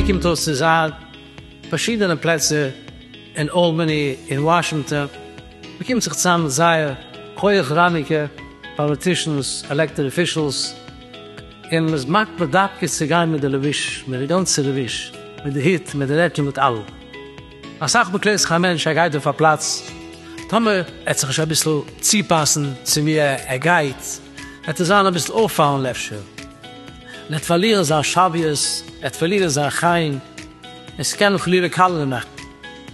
קומט אויס צו זיין פארשידענע פלעצער אין אלבאני אין וואשינגטאן, מען קומט זיך צוזאם זייער הויעך ראנגיקע פאליטישאנס עלעקטעד אפישעלס, און מען איז מקפיד דווקא צו גיין מיט די לבוש, מיט די גאנצע לבוש, מיט די הוט, מיט די רעקל, מיט אלעם. אסאך מאל קלערט זיך א מענטש ער גייט אויף א פלאץ, טאמער ער וועט זיך נישט אביסל צופאסן צו ווי ער גייט, וועט ער זיין אביסל אויפפאלנד אפשר, און ער וועט פארלירן זיין שוויות, ער וועט פארלירן זיין חן, און ס'קען אים חלילה קאלערע מאכן.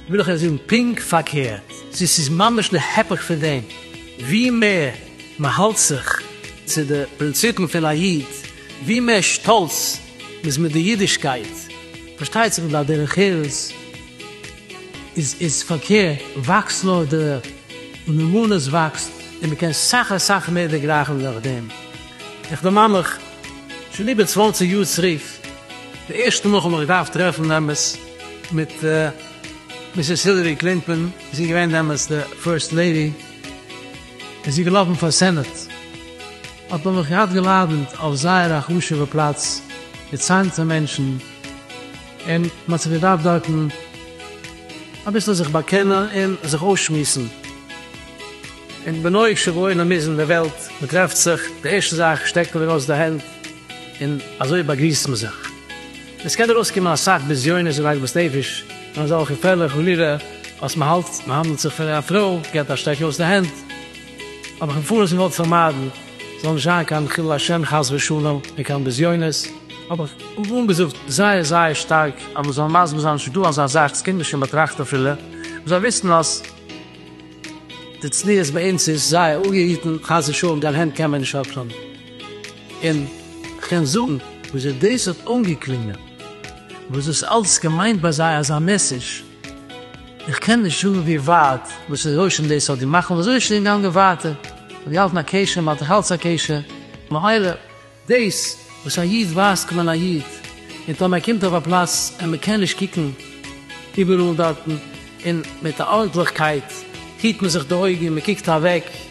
וויל איך אייך זאגן פונקט פארקערט, ס'איז ס'איז ממש די הפך פון דעם, ווי מער מען האלט זיך צו די פרינציפן פון א איד, ווי מער שטאלץ מ'איז מיט די אידישקייט, פארשטייט זיך בלאט דרך ארץ איז איז פארקערט וואקסט נאר די נאמנות וואקסט און מען קען סאך אסאך מער דערגרייכן דורך דעם איך דערמאן מיך שוין איבער צוואנציג יאר צרוף די ערשטע מאל כ'האב מיך געדארפט טרעפן דעמאלטס מיט מיסעס הילערי קלינטאן זי איז געווען דעמאלטס די פירסט לעידי און זי איז געלאפן פאר סענאט. האט מען מיך געהאט געלאדענט אויף זייער א חשוב'ע פלאץ מיט צייטנטע מענטשן, און מען האט זיך געדארפט דארטן אביסל זיך באקענען און זיך אויסשמועסן, און בנוהג שבעולם איז אין די וועלט, מען טרעפט זיך, די ערשטע זאך שטרעקט מען ארויס די הענט און אזוי באגריסט מען זיך. עס קען ארויסקומען אסאך בזיונות און עגמת נפש און אזעלכע פעלער חלילה אז מען האלט מען האנדלט זיך פון א פרוי, געבט א שטרעק ארויס די הענט, האב איך מפורש געוואלט פארמיידן ס'זאל נישט זיין קיין חילול השם חס ושלום און קיין בזיונות, האב איך אנגעזאגט זייער זייער שטארק אז מען זאל מסביר זיין ס'איז דא אזא זאך, ס'קומט נישט אין באטראכט אפילו, מען זאל וויסן אז די צניעות ביי אונז איז זייער אפגעהיטן, חס ושלום דיין הענט קען מען נישט אפטאן, און כ'קען זאגן וויאזוי דאס האט אנגעקלינגען, וואס דאס אלץ געמיינט ביי זיי אזא מעסעדזש. איך קען נישט זאגן ווי ווייט וואס רושם דאס האט געמאכט און וויאזוי עס איז געגאנגען ווייטער, מ'האט געהאלטן א קשר און מ'האלט נאכאלץ א קשר, ממילא דאס וואס א איד ווייזט קען מען א איד, און טאמער ער קומט אויף א פלאץ און מ'קען נישט קוקן איבעראל דארטן, און מיט א ארנטליכקייט היט מען זיך די אויגן און מ'קוקט אוועק.